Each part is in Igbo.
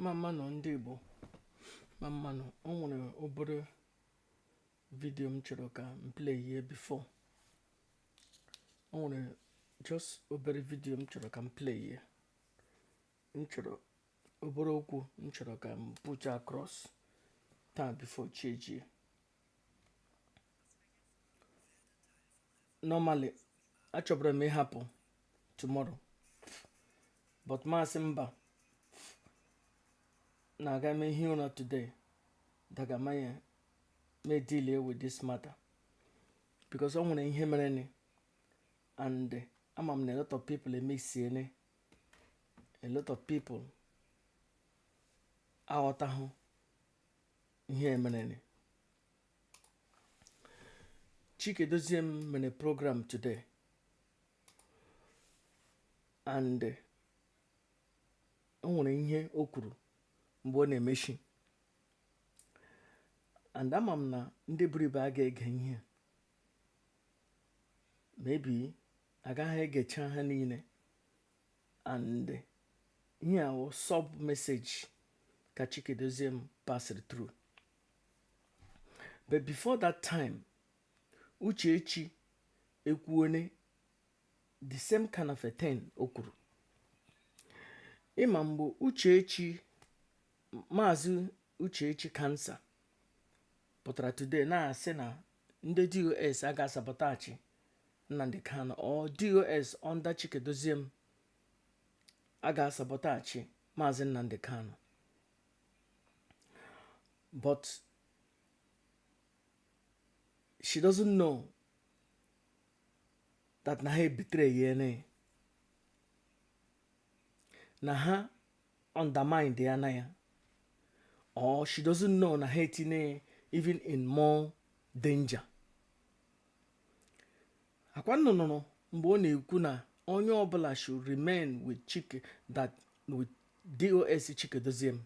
mma mma nụ ndị Igbo mma mma nụ o nwere obere vidio m chọrọ ka m play here before o nwere just obere vidio m chọrọ ka m play here m chọrọ obere okwu m chọrọ ka m put across taa before chi ejie normally achọburu m ịhapụ tomorrow but m asị mba na aga m ehi ụra today dagamanye may deal with this matter because o nwere ihe mereni and ama m na a lot of people emesiene a lot of people aghọtahụ ihe mereni Chika Edoziem mere program today and eh, o nwere ihe o kwuru mgbe ọ na-emechi and ama m na ndị buru ibu aga ege ihe maybe agaghị egecha ha niile and ihe a wụ sub message ka Chika Edoziem passịrị through but before that time Uchechi ekwuone the same kind of a thing o kwuru ị ma mgbe Uchechi Maazị Uchechi cancer pụtara today na-asị na ndị DOS aga-asabotage Nnamdi Kanu or DOS under Chika Edoziem aga-asabotage Maazị Nnamdi Kanu but she doesn't know that na ha ebetrayene na ha underminedana ya or she doesn't know na ha etinye even in more danger ọ kwa ụnụ nụrụ mgbe ọ na-ekwu na onye ọbụla should remain with Chika that with DOS Chika Edoziem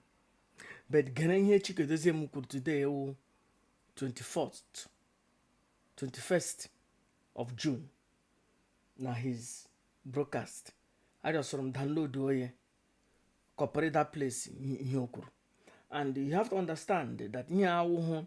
but gere ihe Chika Edoziem kwuru today wụ 21st of June na his broadcast ajustụrụ m download onye kọpụrụ that place ihe o kwuru and you have to understand that ihe a wụhụ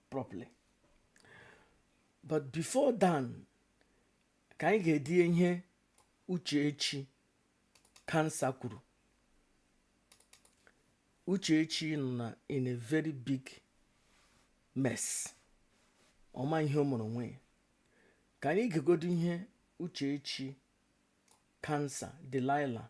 properly but before then ka anyị gedị ihe uchechi cancer kwuru uchechi nọ na in a very big mess ọ ma ihe o mere onwe ya ka anyị gegodi ihe uchechi cancer delilah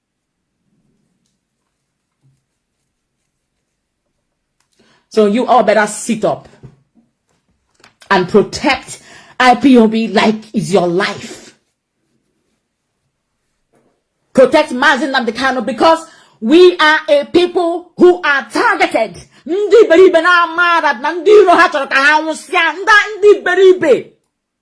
So you all better sit up and protect IPOB like it's your life. Protect Mazi Nnamdi Kanu because we are a people who are targeted. Ndị iberibe na amara na ndị iro ha chọrọ ka ha nwụsịa ndị iberibe.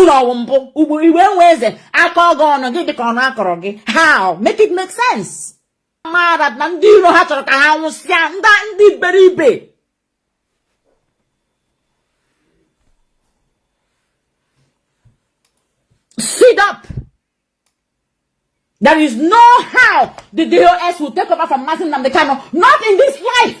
ụlọ ọwụ mbụ ugbo iwe nwe eze aka ọgọ ọnụ gị dịka ọnụ akọrọ gị how make it make sense mara na ndị iro ha chọrọ ka ha nwụsịa ndị ndị iberibe sit up there is no how the DOS will take over from Mazi Nnamdi Kanu not in this life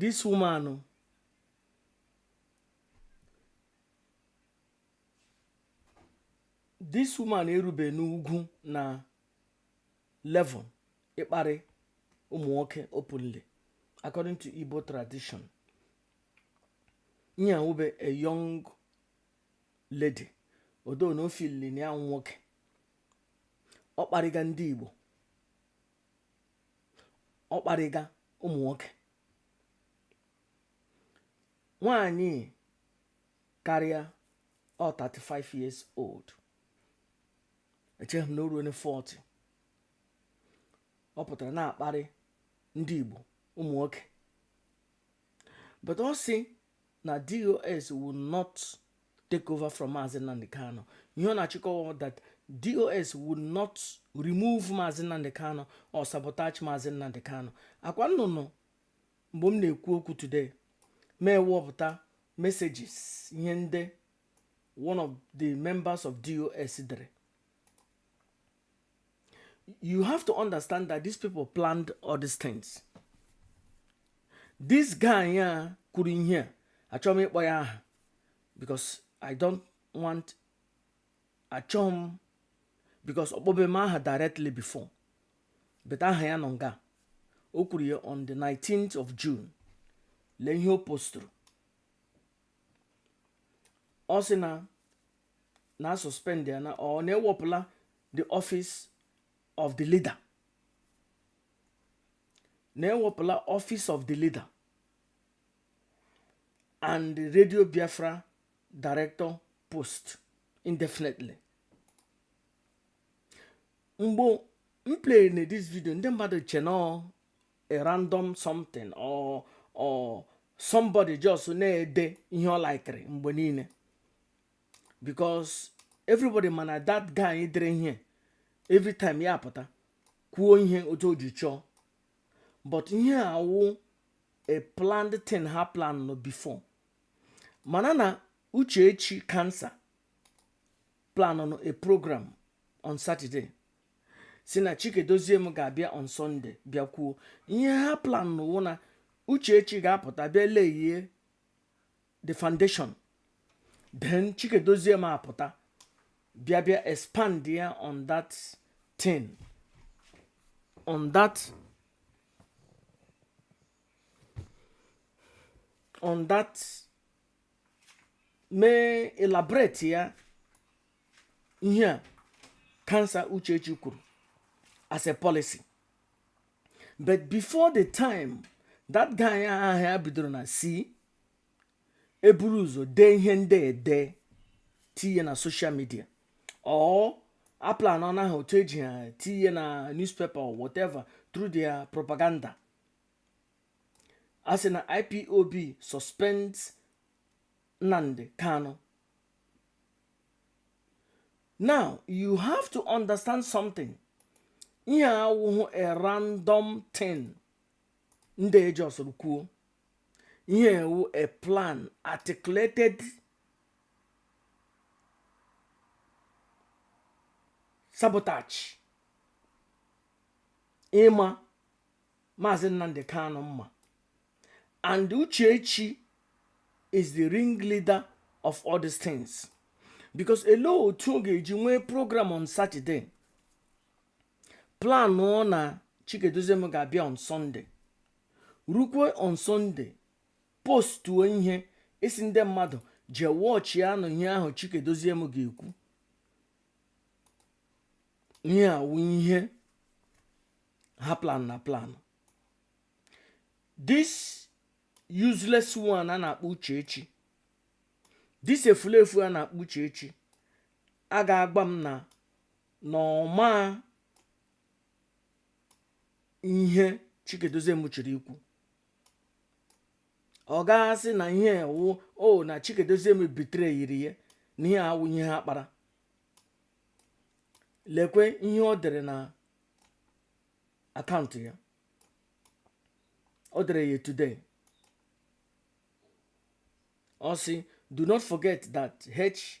this woman this woman erube n'ugwu na level ịkparị ụmụ nwoke openly according to Igbo tradition nye wube a young lady although na ọ feeli na ya wụ nwoke ọ kparịga ndị Igbo ọ kparịga ụmụ nwoke nwanyị karịa ọ 35 years old echeghị m na o ruona 40 ọ pụtara na-akparị ndị Igbo ụmụ nwoke but ọ sị na dos will not take over from Mazi Nnamdi Kanu ihe ọ na-achọ ịkọwa that dos will not remove Mazi Nnamdi Kanu or sabotage Mazi Nnamdi Kanu ọ kwa unu nọ mgbe m na-ekwu okwu today m ewepụta messages ihe ndị one of the members of dos dere you have to understand that these people planned all these things this guy a kwuru ihe a achọghị m ịkpọ ya aha because i don't want achọghị m because ọ kpọbe m aha directly before but aha ya nọ nga o kwuru ya on the 19th of june lee ihe o postụrụ ọ sị na na suspend ya na ọ na ewepụla the office of the leader na ewepụla office of the leader and the radio biafra director post indefinitely mgbe m play na this video ndị mmadụ che na ọ a random something or or somebody just na-ede ihe ọ likere mgbe niile because everybody ma na that guy dere ihe every time ya apụta kwuo ihe otu o ji chọọ but ihe a wụ a planned thing ha plannụ before mana na uchechi kansa planụọ a program on saturday sị na chika edoziem ga-abịa on sunday bịa kwuo ihe ha plannụ na uchechi ga-apụta bịa layie the foundation then chika edoziem apụta bịa bịa expandịa on that thing on that on that mee elaboratịa ihe a kansa uchechi kwuru as a policy but before the time that guy ahụ ya bidoro na si eburu ụzọ dee ihe ndị ede tinye na social media or a planụọna ha otu e ji ha tinye na newspaper or whatever through their propaganda a sị na ipob suspends nnamdi kanu now you have to understand something ihe a awụhụ a random thing ndị e justụrụ kwuo ihe a wụ a plan articulated sabotage ịma maazị nnamdị kanụ mma and uchechi is the ringleader of all these things because ele otu ọ ga-eji nwee program on saturday planụọ na chika edoziem ga-abịa on sunday rukwe on sunday postuo ihe ị sị ndị mmadụ jee watchịa nụ ihe ahụ chika edoziem ga-ekwu ihe a wụ ihe ha plannụ aplan this useless one a na-akpọ uchechi this efulefu a na-akpọ uchechi a ga-agwa m na na ọ ma ihe Chika Edoziem chiri ikwu ọ ga-asị na ihe wụ na Chika Edoziem betrayiri ya na ihe a wụ ihe ha kpara lekwe ihe ọ dere na akaụntụ ya ọ dere ya today ọ sị do not forget that h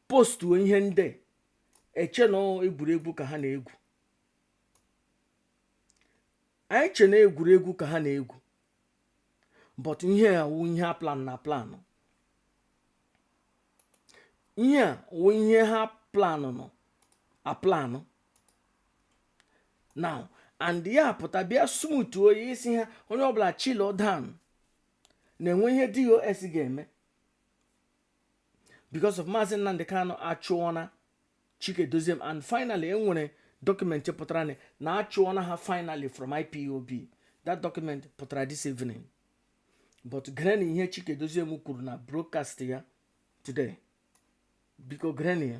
postuo ihe ndị eche na egwuregwu ka ha na-egwu anyị che na egwuregwu ka ha na-egwu but ihe a wụ ihe a planụ aplanụ ihe a wụ ihe ha planụ aplanụ now and ya pụta bịa smooth ọ sị ha onye ọbụla chilụọ down na e nwe ihe DOS ga-eme because of Maazị Nnamdi Kanu achụọna Chika Edoziem and finally e nwere document pụtara na a chụọna ha finally from IPOB that document pụtara this evening but gerenụ ihe Chika Edoziem kwuru na broadcast ya today biko gerenụ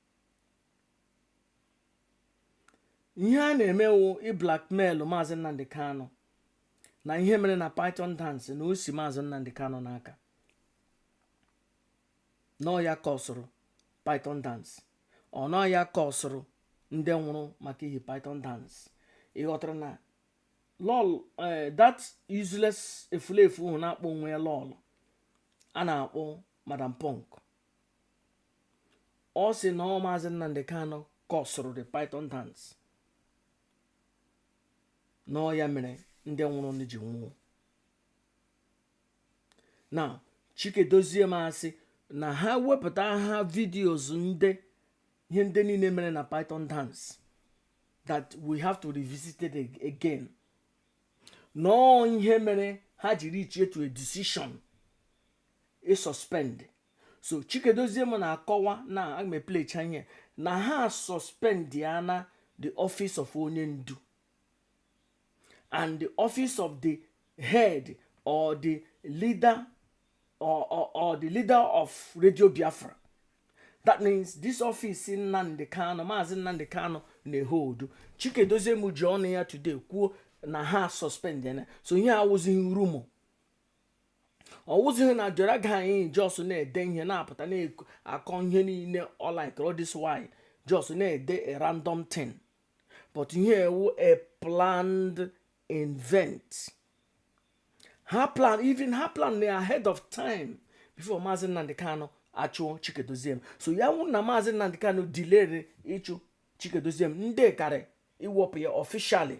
ihe a na-eme wụ ịblackmail Maazị Nnamdi Kanu na ihe mere na python dance na o si Maazị Nnamdi Kanu n'aka na ọ ya kọsụrụ python dance or na ọ ya kọsụrụ ndị nwụrụ maka ihi python dance ị ghọtara na lọlọ eh, that useless efulefu hụ na-akpọ onwe ya lọlọ a na-akpọ madam punk ọ sị na ọ maazị Nnamdi Kanu kọsụrụ the python dance na ọ ya mere ndị nwụrụnụ ji nwụọ na Chika Edoziem asị na ha wepụta ha videos ndị ihe ndị niile mere na python dance that we have to revisit it again na ọ ihe mere ha ji reach to a decision ịsuspend so Chika Edoziem na-akọwa na aga m eplaycha ihe na ha suspendi ya na the office of onye ndu and the office of the head or the leader or, or, or the leader of radio biafra that means this office Nnamdi Kanu Maazị Nnamdi Kanu na-eholdu Chika Edoziem ji ọnụ ya today kwuo na ha suspend ya so ihe awụzighị rumour ọ wụzighị na jere ga anyị just na-ede ihe na-apụta na-akọ ihe niile all like all this while just na-ede a random thing but ihe a wụ a planned event ha plan even ha plan na ahead of time before maazị nnamdi kanu achụọ chika edoziem so ya wụ na maazị nnamdi kanu delayre ịchụ chika edoziem ndị karị iwepụ ya officially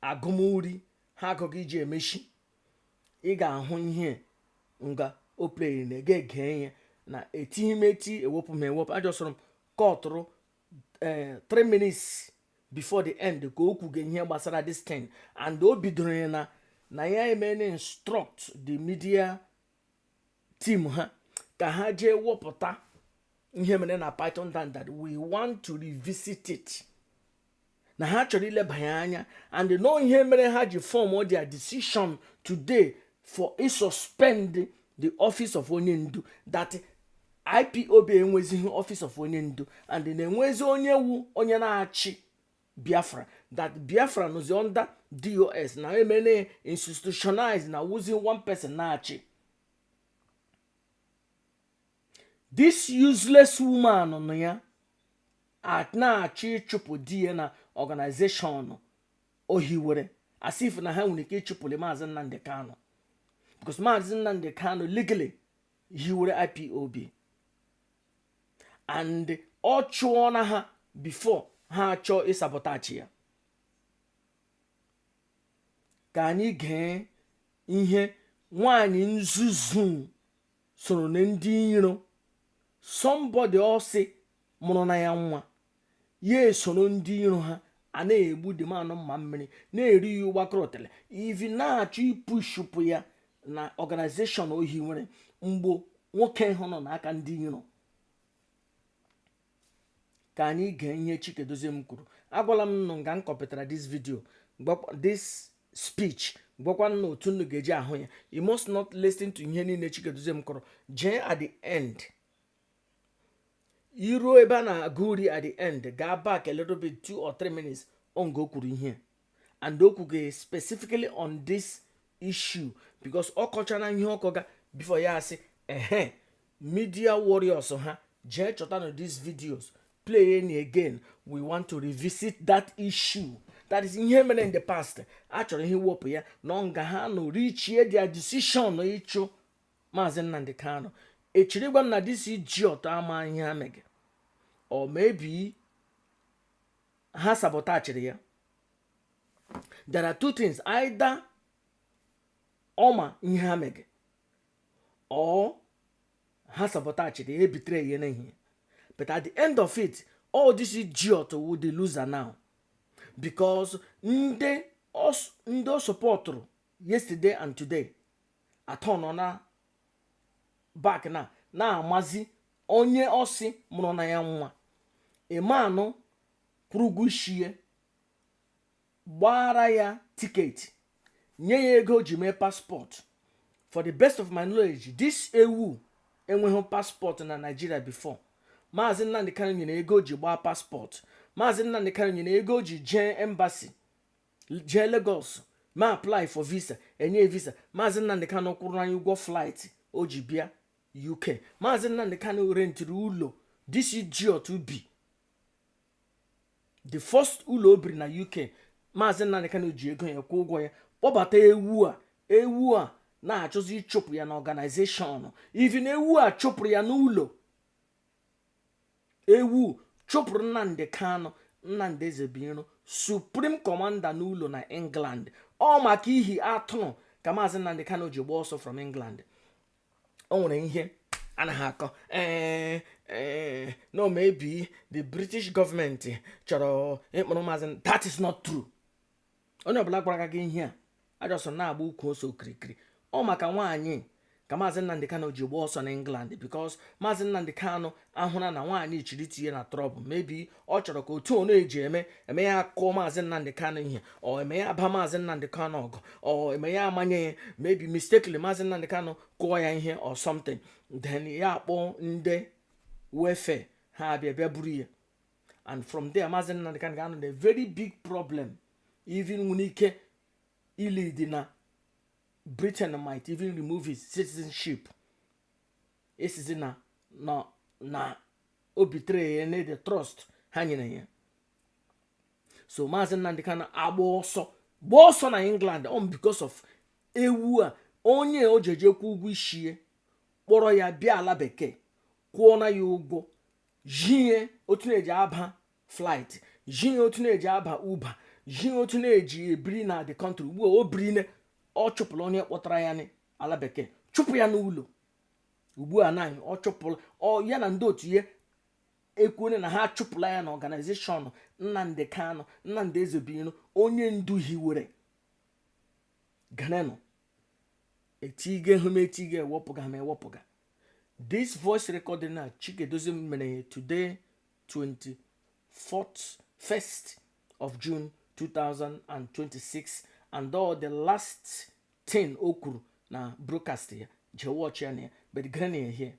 agụmuri ha agụga iji emechi ị ga-ahụ ihe nga o playiri na ege ege ihe na etighi m eti ewepụ m ewepụ ajọsọrọ m cutụrụ ee 3 minutes before the end ka o kwuge ihe gbasara this thing and o bidoro ya na na ya emene instruct the media team ha ka ha jee wepụta ihe mere na python dance that we want to revisit it na ha chọrọ ilebanye anya and nọ ihe mere ha ji form their decision today for ịsuspend the office of onye ndu that ipob enwezighị office of onye ndu and na-enwezi onye wu onye na-achị biafra that biafra nọzi under dos na emene institutionalized na ọ wụzi one person na-achị this useless woman nwunye ya na-achọ ịchụpụ di ya na organization o hiwere as if na ha nwere ike ịchụpụli maazị nnamdi kanu because maazị nnamdi kanu legally hiwere ipob and ọ chụọna ha before ha achọọ ịsabotage ya ka anyị gee ihe nwanyị nzuzu sorona ndị iro somebody ọ sị mụrụ na ya nwa ya esoro ndị iro ha a na-egbu dị ma anụ mma mmiri na-eri ya ọ gbakụrụ otele even na-achọ ipushupụ ya na organization o hiwere mgbe nwoke ahụ nọ n'aka ndị iro ka anyị gee ihe Chika Edoziem kwuru agwala m unu nga m copytara this video this speech gwakwa unu otu unu ga-eji ahụ ya you must not listen to ihe niile Chika Edoziem kwuru jee at the end iruo ebe a na-agụ uri at the end gaa back a little bit two or three minutes nga o kwuru ihe and o kwuge specifically on this issue because ọ kọchara ihe ọ kọga before ya asị ehe media warriors ha jee chọtanụ these videos playenụ again we want to revisit that issue that is ihe mere in the past a chọrọ ihe iwepụ ya na nga ha nọ reachie their decision ịchụ maazị Nnamdi Kanu echiri gwa m na this idiot ama ihe ha mege or maybe ha sabotachiri ya there are two things either ọ ma ihe ha mege or ha sabotachiri ya e betray ya n'ihe a but at the end of it all this idiot wu the loser now because ndị ọ sọpọtụrụ yesterday and today atọnọna back na na maazị onye ọ sị mụrụ na ya nwa ị ma nụ kwụrụ ụgwọ ishie gbaara ya ticket nye ya ego o ji mee passport for the best of my knowledge this ewu enweghị passport na Nigeria before maazị Nnamdi Kanu nyere ego o ji gbaa passport maazị Nnamdi Kanu nyere ego o ji jee embassy jee Lagos ma apply for visa enye visa maazị Nnamdi Kanu kwụrụ anyị ụgwọ flight o ji bịa UK maazị Nnamdi Kanu rentiri ụlọ this idiot bi the first ụlọ o biri na UK maazị Nnamdi Kanu ji ego ya kwụọ ụgwọ ya kpọbata ewu a ewu a na-achọzi ịchụpụ ya na organization even ewu a chụpụrụ ya n'ụlọ ewu chụpụrụ Nnamdi Kanu Nnamdi Ezebuiro supreme commander n'ụlọ na England ọ maka ihi atụrụ ka maazị Nnamdi Kanu ji gbaa ọsọ from England o nwere ihe anaghị akọ no maybe the British government chọrọ ịkpụrụ maazị that is not true onye ọbụla gwara gị ihe a just na-agba ukwu ose okirikiri ọ maka nwaanyị ka maazị Nnamdi Kanu ji gba ọsọ na England because maazị Nnamdi Kanu ahụna na nwaanyị chiri tinye na trouble maybe ọ chọrọ ka otu ono eji eme eme ya akụọ maazị Nnamdi Kanu ihe or eme ya aba maazị Nnamdi Kanu ọgụ or eme ya amanye ya maybe mistakenly maazị Nnamdi Kanu kụọ ya ihe or something then ya akpọ ndị welfare ha abịa bịa buru ya and from there maazị Nnamdi Kanu ga-anọ na very big problem even nwere ike ilidi na Britain might even remove his citizenship esizi na ọ betray na the trust ha nyere ya so maazị Nnamdi Kanu agba ọsọ gba ọsọ na England on because of ewu a onye o jeje kwụ ụgwọ ishie kpọrọ ya bịa ala bekee kwụọ na ya ụgwọ zhi ya otu na-eji aba flight zhi ya otu na-eji aba Uber zhi ya otu na-eji ebiri na the country ugbu a o birine ọ chụpụrụ onye kpọtara ya ala bekee chụpụ ya n'ụlọ ugbu a na ọ chụpụrụ ya na ndị otu ya ekwuole na ha achụpụla ya na organization Nnamdi Kanu Nnamdi Ezebuiro onye ndu hiwere ganenụ etige hụ m etige ewepụga m ewepụga this voice recording na chika edoziem mere ya today 21st of june 2026 and all the last 10 o kwuru na broadcast ya jee watch ya na ya but gerenụ ya here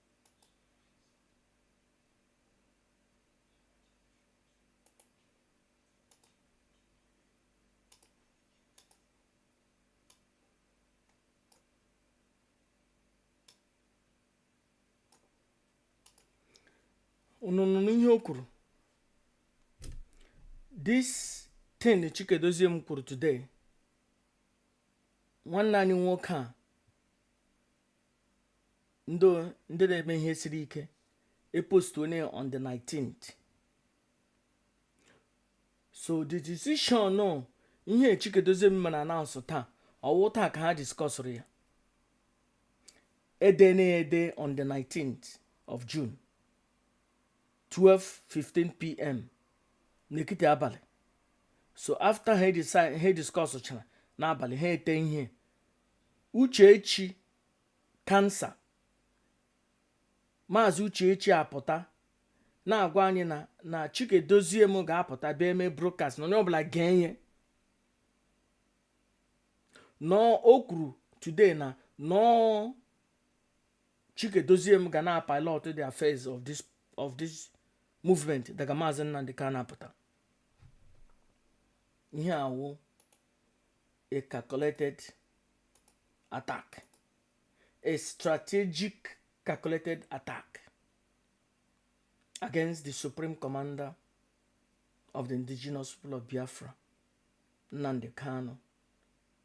unu nụrụ ihe o kwuru this thing Chika Edoziem kwuru today nwanne anyị nwoke a ndị ndị na-eme ihe siri ike epost onye on the 19th so the decision no ihe chika edoziem na-announce taa ọ wụ taa ka ha discussụrụ ya ede na ede on the 19th of june 12:15 pm n'ekiti abalị so after ha decide ha discuss chara n'abalị ha ete ihe uchechi kansa maazị uchechi apụta na-agwa anyị na na chika edoziem ga-apụta bịa eme broadcast na onye ọbụla gee ihe nọọ o kwuru today na nọọ chika edoziem ga na-apilot the affairs of this of this movement daga maazị nnamdi kanu apụta ihe a wụ a calculated attack a strategic calculated attack against the supreme commander of the indigenous people of biafra nnamdi kanu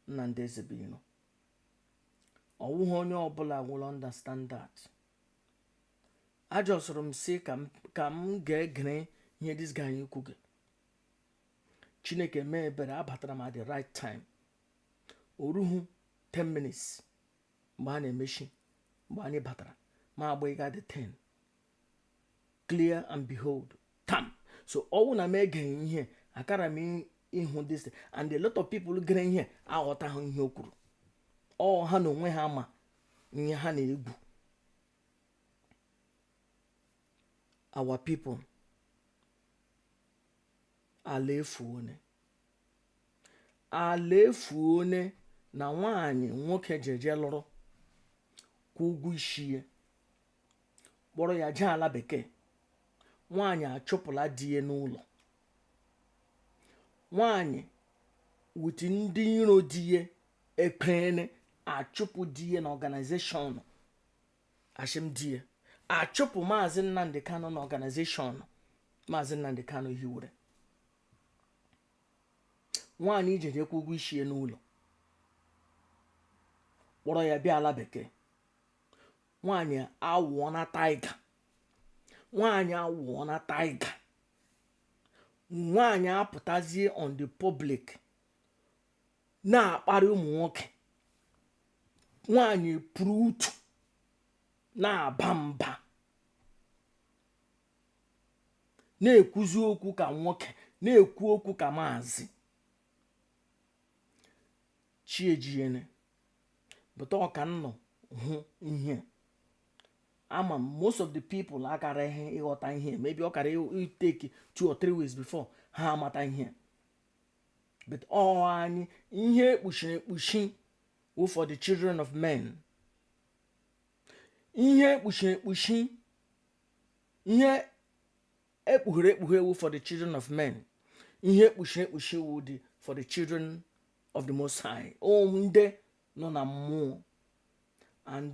nnamdi ezebino ọ wụghị onye ọbụla will understand that ajustụrụ m sị ka m ka m ga-egere ihe this guy kwuge chineke mee ebere abatara m at the right time o ruhu 10 minutes mgbe a na-emechi mgbe anyị batara ma agba ịga the 10 clear and behold tam so ọ wụ na m egeghị ihe akara m ịhụ this and a lot of people gere ihe aghọtaghị ihe o kwuru ọ ha na onwe ha ma ihe ha na-egwu our people ala efuone ala efuone na nwaanyị nwoke jeje lụrụ kwụọ ụgwọ ishi ya kpọrọ ya jee ala bekee nwaanyị achụpụla di ya n'ụlọ nwaanyị with ndị iro di ya ekpene achụpụ di ya na organization ashị m di ya achụpụ maazị nnamdi kanu na organization maazị nnamdi kanu hiwere nwaanyị jeje kwụọ ụgwọ ishi ya n'ụlọ kpọrọ ya bịa ala bekee nwaanyị awụọna tiger nwaanyị awụọna tiger nwaanyị apụtazie on the public na-akparị ụmụ nwoke nwaanyị puru utu na-aba mba na-ekwuzi okwu ka nwoke na-ekwu okwu ka maazị chiejiene but ọ ka nnọ hụ ihe ama m most of the people akaraghị ịghọta ihe maybe ọ kara ị-take two or three weeks before ha amata ihe but ọ anyị ihe ekpuchiri ekpuchi wụ for the children of men ihe ekpuchiri ekpuchi ihe ekpughere ekpughe wụ for the children of men ihe ekpuchiri ekpuchi wụ dị for the children of the most high o ndị nọ na mmụọ and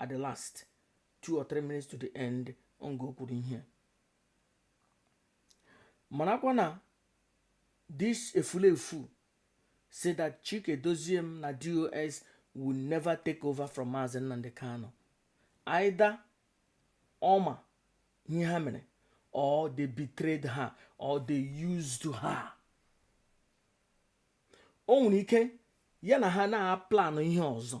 at the last two or three minutes to the end nga o kwuru ihe marakwa na this efulefu say that Chika Edoziem na DOS will never take over from Mazi Nnamdi Kanu either ọ ma ihe ha mere or they betrayed her or they used her o nwere ike ya na ha na-aplanụ ihe ọzọ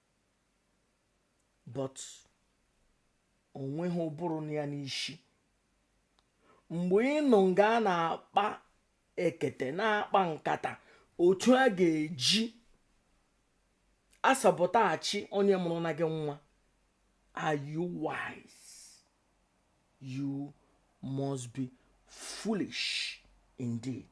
but o nweghị ụbụrụ nọ ya n'ishi mgbe ị nọ nga a na-akpa ekete na-akpa nkata otu a ga-eji asabotage onye mụrụ na gị nwa are you wise you must be foolish indeed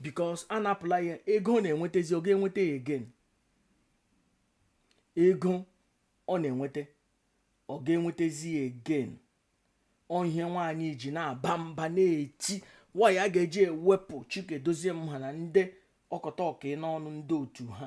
because a napụla ya ego ọ na-enwetazi ọ ga-enweta ya again ego ọ na-enweta ọ ga-enwetazi ya again ọ ihe nwaanyị ji na-aba mba na-eti why a ga-eji ewepụ chika edoziem ha na ndị ọkọta ọka n'ọnụ ndị otu ha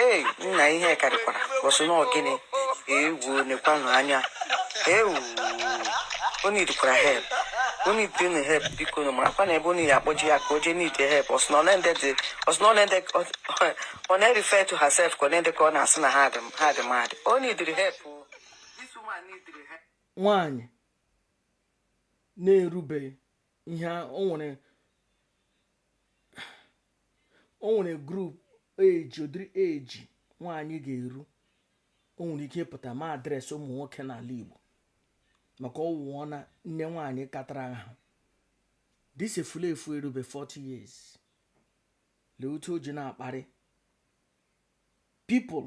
ee nna ihe karịkwara ọ sụ na ọ gịnị ewu nekwanụ anya ewu o needikwara help o needi nụ help biko unu marakwa na ebe unu ya akpọje ya ka o jee need help ọ sụ na ọ na-refer to herself ka ọ na-ede ka ọ na-asị na ha dị mad o neediri help nwaanyị na-erubeghị ihe o nwere o nwere group age ụdịrị age nwaanyị ga-eru o nwere ike ịpụta ma address ụmụ nwoke n'ala Igbo maka ọ wụọ na nne nwaanyị katara ahụ this efulefu erube 40 years lee otu o ji na-akparị people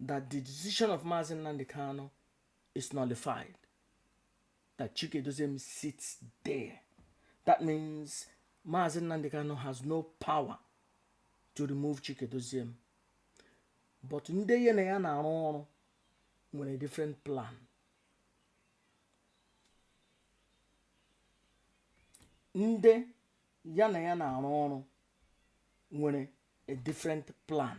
that the decision of Mazi Nnamdi Kanu is nullified. That Chika Edoziem sits there. That means Mazi Nnamdi Kanu has no power to remove Chika Edoziem. But ndị ya na ya na-arụ ọrụ nwere different plan. Ndị ya na ya na-arụ ọrụ nwere a different plan.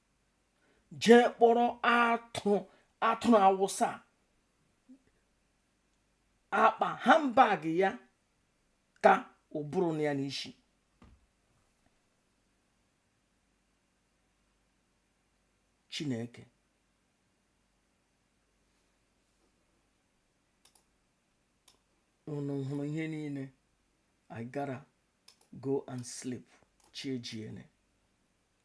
jee kpọrọ atụrụ awụsa akpa handbag ya ka ụbụrụ nọ ya n'isi chineke unu hụrụ ihe niile I gotta go and sleep chi ejiene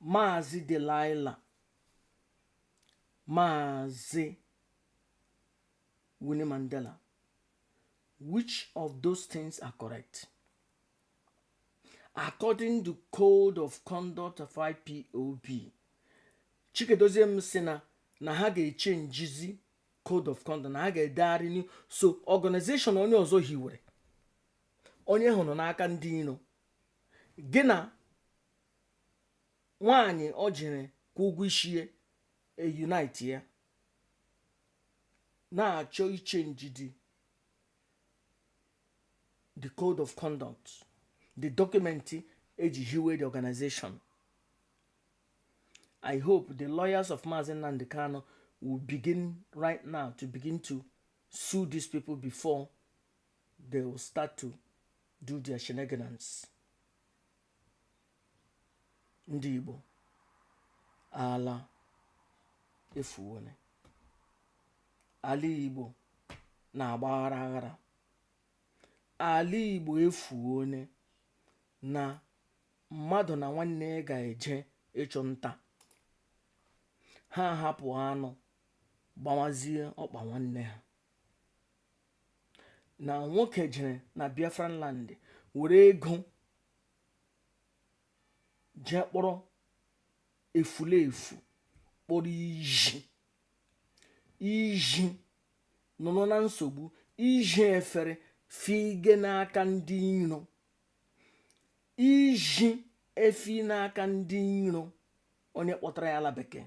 Maazị Delilah Maazị Winnie Mandela which of those things are correct? According to code of conduct of IPOB Chika Edoziem sị na na ha ga-echenjizi code of conduct na ha ga-edegharị new so organization onye ọzọ hiwere onye ahụ nọ n'aka ndị iro gị na nwaanyị o jere kwụọ ụgwọ isi ya e-unite ya na-achọ ichenjidi the code of conduct the document eji hiwe the organization i hope the lawyers of Mazi Nnamdi Kanu will begin right now to begin to sue these people before they will start to do their shenanigans ndị Igbo ala efuwone ala Igbo na-agba aghara aghara ala Igbo efuwone na mmadụ na nwanne ya ga-eje ịchụ nta ha hapụ anụ gbawazie ọkpa nwanne ha na nwoke jere na biafran land were ego jee kpọrọ efulefu kpọrọ iji iji nọrọ na nsogbu iji efere fige n'aka ndị iro iji efi n'aka ndị iro onye kpọtara ya ala bekee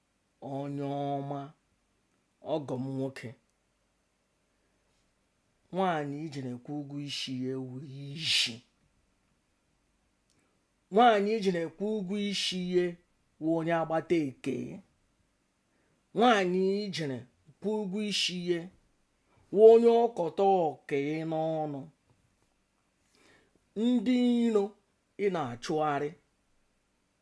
onye ọma ọgọ m nwoke nwaanyị i jere kwụ ụgwọ isi ya wụ isi nwaanyị i jere kwụ ụgwọ isi ya wụ onye agbata ekee nwaanyị i jere kwụ ụgwọ isi ya wụ onye ọkọta okee n'ọnụ ndị iro ị na-achụgharị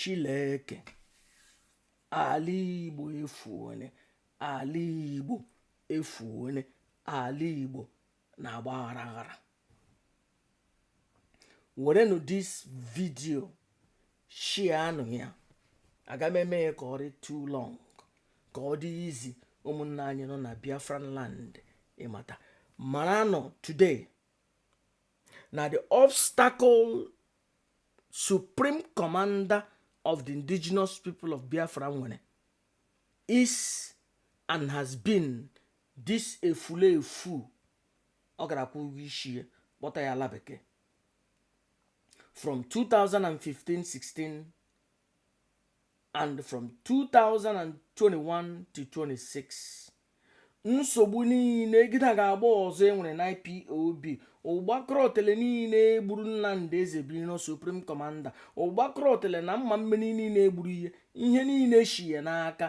Chileke ala Igbo efuone ala Igbo efuone ala Igbo na-agba aghara aghara werenụ this video sharenụ ya aga m eme ya ka ọ dị too long ka ọ dị easy ụmụnna anyị nọ na biafran land ịmata mara nọ today na the obstacle supreme commander of the indigenous people of biafra nwere is and has been this efulefu ọ gara kwụ ụgwọ isi ya kpọta ya ala bekee from 2015-16 and from 2021 to 26 nsogbu niile gịda ga-agba ọzọ e nwere na IPOB ụgbakọrọ otele niile e gburu Nnamdi eze birino supreme commander ụgbakọrọ otele na mma mmiri niile e gburu ihe ihe niile shi ya n'aka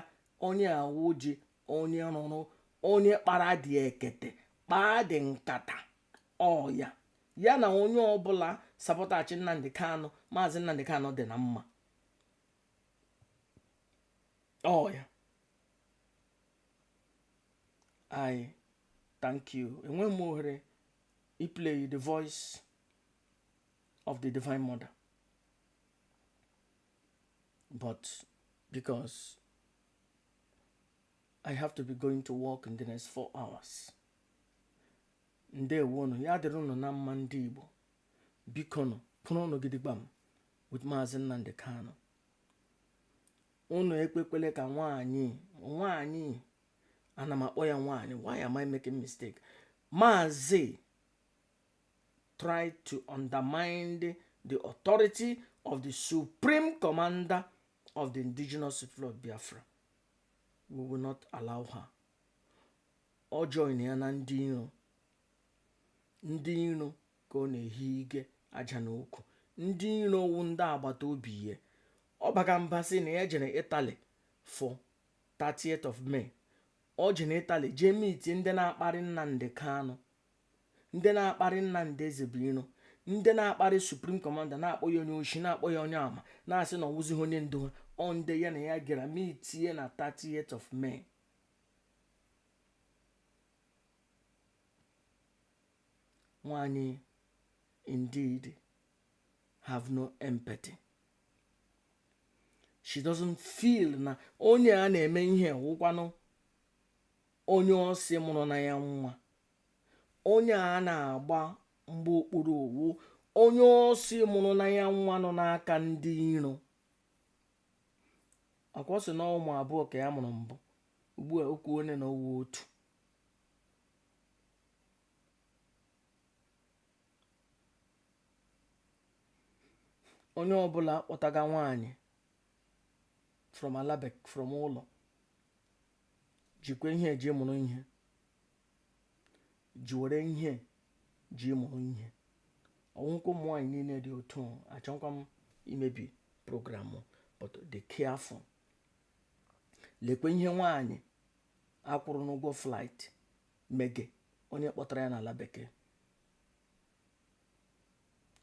onye a wụji onye rụrụ onye kpara dị ekete kpaa dị nkata ọya ya na onye ọbụla sapọtachi Nnamdi Kanu Maazị Nnamdi Kanu dị na mma ọya I thank you enweghị m ohere iplay the voice of the divine mother but because I have to be going to work in the next four hours. ndewonu ya dịrị ụnụ na mma ndị Igbo bikonu kwụrụ ụnụ gidigbam with Maazị Nnamdi Kanu ụnụ ekwekwele ka nwaanyị nwaanyị ana m akpọ ya nwaanyị why am I making mistake Maazị try to undermine the authority of the supreme commander of the indigenous people of Biafra we will not allow her ọ join ya na ndị iro ndị iro ka ọ na-ehi ike aja na ukwu ndị iro wu ndị agbata obi ya ọ baga mba sị na ya jere Italy for 30th of May o jere Italy jee meetie ndị na-akparị Nnamdi Kanu ndị na-akparị Nnamdi Ezebuiro ndị na-akparị Supreme Commander na-akpọ ya onye oshi na-akpọ ya onye ama na-asị na ọ wụzighị onye ndu ha ọ ndị ya na ya gara meetie na 30th of May nwanyị indeed have no empathy she doesn't feel na onye a na-eme ihe wụkwanụ onye ọ sị mụrụ na ya nwa onye a na-agba mgba okpuru ọ wụ onye ọ sị mụrụ na ya nwa nọ n'aka ndị iro akwa ọ sị na ụmụ abụọ ka ya mụrụ mbụ ugbu a o kwuone na ọ wụ otu onye ọbụla kpọtaga nwaanyị from ala bekee from ụlọ jikwa ihe a ji mụrụ ihe jiwere ihe a ji mụrụ ihe ọ wụghịkwa ụmụ nwaanyị niile dị otu a achọghịkwa m imebi program but dị careful lekwe ihe nwaanyị a kwụrụ n'ụgwọ flight mege onye kpọtara ya n'ala bekee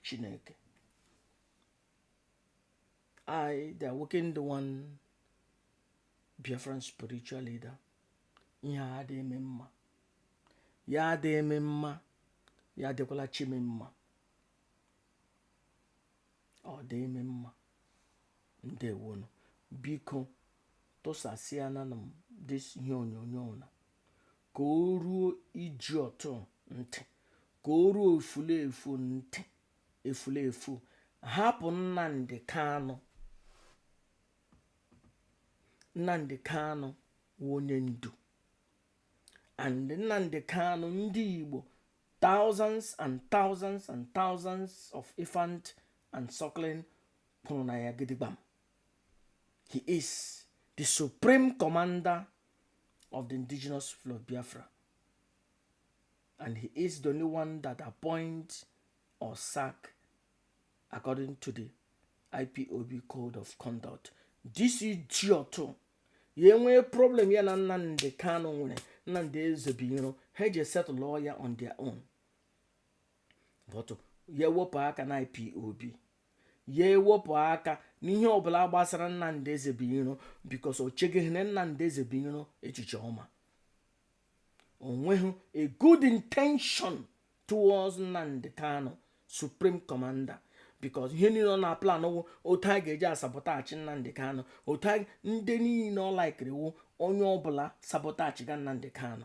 Chineke I, the awakened one, Biafran spiritual leader, ihe a dị m mma ya dị m mma ya dịkwala chi m mma ọ dị m mma ndewonu biko tụsasịanụ this ihe onyonyo na ka o ruo ejiọtụ ntị ka o ruo efulefu ntị efulefu hapụ nnamdị kanụ Nnamdi Kanu wụ onye ndu and Nnamdi Kanu ndị Igbo thousands and thousands and thousands of infant and suckling kwụrụ na ya gidigbam he is the supreme commander of the indigenous people of Biafra and he is the only one that appoints or sack according to the ipob code of conduct this ejiọtụ ya enwee problem ya na nnamdị kanu nwere nnamdị ezebuiro ha eje settle ya on their own but ya ewepụ aka na ipob ya ewepụ aka n'ihe ọbụla gbasara nnamdị ezebuiro because o chegeghịrị nnamdị ezebuiro echiche ọma o nweghị a good intention towards Nnamdi Kanu supreme commander because ihe niile ọ na-aplan wụ otu a ga-eji asabotage Nnamdi Kanu otu ndị niile ọ laikiri wụ onye ọbụla sabotagega Nnamdi Kanu